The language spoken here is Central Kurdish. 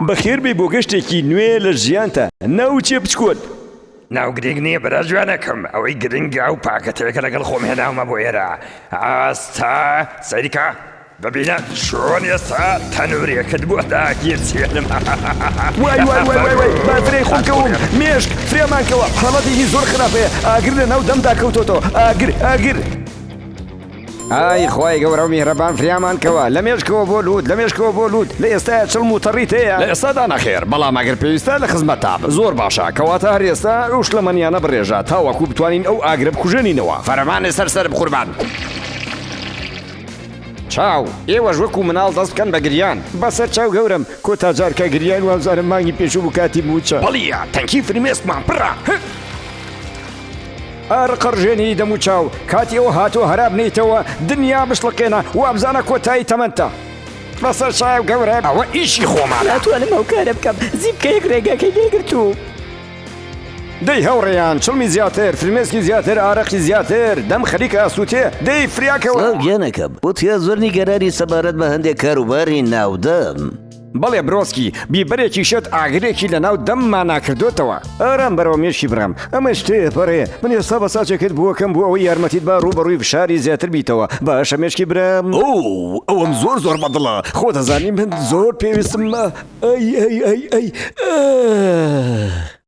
بەخێربێی بۆ گەشتێکی نوێ لە ژیانتا ناوچێ بچکۆل. ناو گرنگ نییە برا جوانەکەم ئەوەی گرنگە ئەو پاکەتەیە کە لەگەڵ خۆم هێناومە بۆ ئێرە ئاستا سەیرکە ببینە چۆن ئێستا تەنورێکت بۆ داگیرسێنم وای وای وای وای وای بافرەی خۆم کەوم مێشک فرێمان کەوە حاڵەتێکی زۆر خراپەیە ئاگر لە ناو دەمدا کەوتۆتەوە ئاگر ئاگر ئای خوای گەورە و میهرەبان فریامان کەوە لە مێشکەوە بۆ لووت لە مێشکەوە بۆ لووت لە ئێستایا چڵم و تەڕیت هەیە؟ لە ئێستادا نەخێر بەڵام ئەگەر پێویستە لە خزمەتتابم. زۆر باشە کەواتە هەر ئێستا ئەو شلەمەنیانە بڕێژە تاوەکو بتوانین ئەو ئاگرە بکوژێنینەوە. فەرمانێ سەر سەرم قوربان. چاو، ئێوەش وەکو مناڵ دەست بکەن بە گریان. بەسەر چاو گەورەم، کۆتا جار کە گریاین وابزانم مانگی پێشوو بوو کاتی مووچە. بلیە تەنکی فرمێسکمان پڕە. ئارقە ڕژێنی دەم و چاو کاتی ئەو هاتووە هەرا بنێیتەوە دنیا بشڵەقێنە وابزانە کۆتایی تەمەنتە. بەسەر چایەو گەورە ئەوە ئیشی خۆمانە. ناتوانم ئەو کارە بکەم زیپکەیەک ڕێگاکەی لێ گرتووم. دەی هاوڕێیان چڵمی زیاتر فرمێسکی زیاتر ئارەقی زیاتر دەم خەریکە ئەسووتێ دەی فریاکەوە. سڵاو گیانەکەم، وتیان زۆر نیگەرانی سەبارەت بە هەندێک کاروباری ناودەم. بەڵێ برۆسکی، بیبەرێکی شێت ئاگرێکی لە ناو دەممانا کردۆتەوە. ئارام بەرەوە مێشکی برام، ئەمە شتێ پەڕێ، من ئێستا بە ساچێکت بووە کەم بۆ ئەوەی یارمەتیت با ڕووبەڕووی فشاری زیاتر بیتەوە، باشە مێشکی برام؟ ئۆو، ئەوەم زۆر زۆر بە دڵە، خۆت ئەزانی من زۆر پێویستم بە ئەی ئەی ئەی ئەی ئە.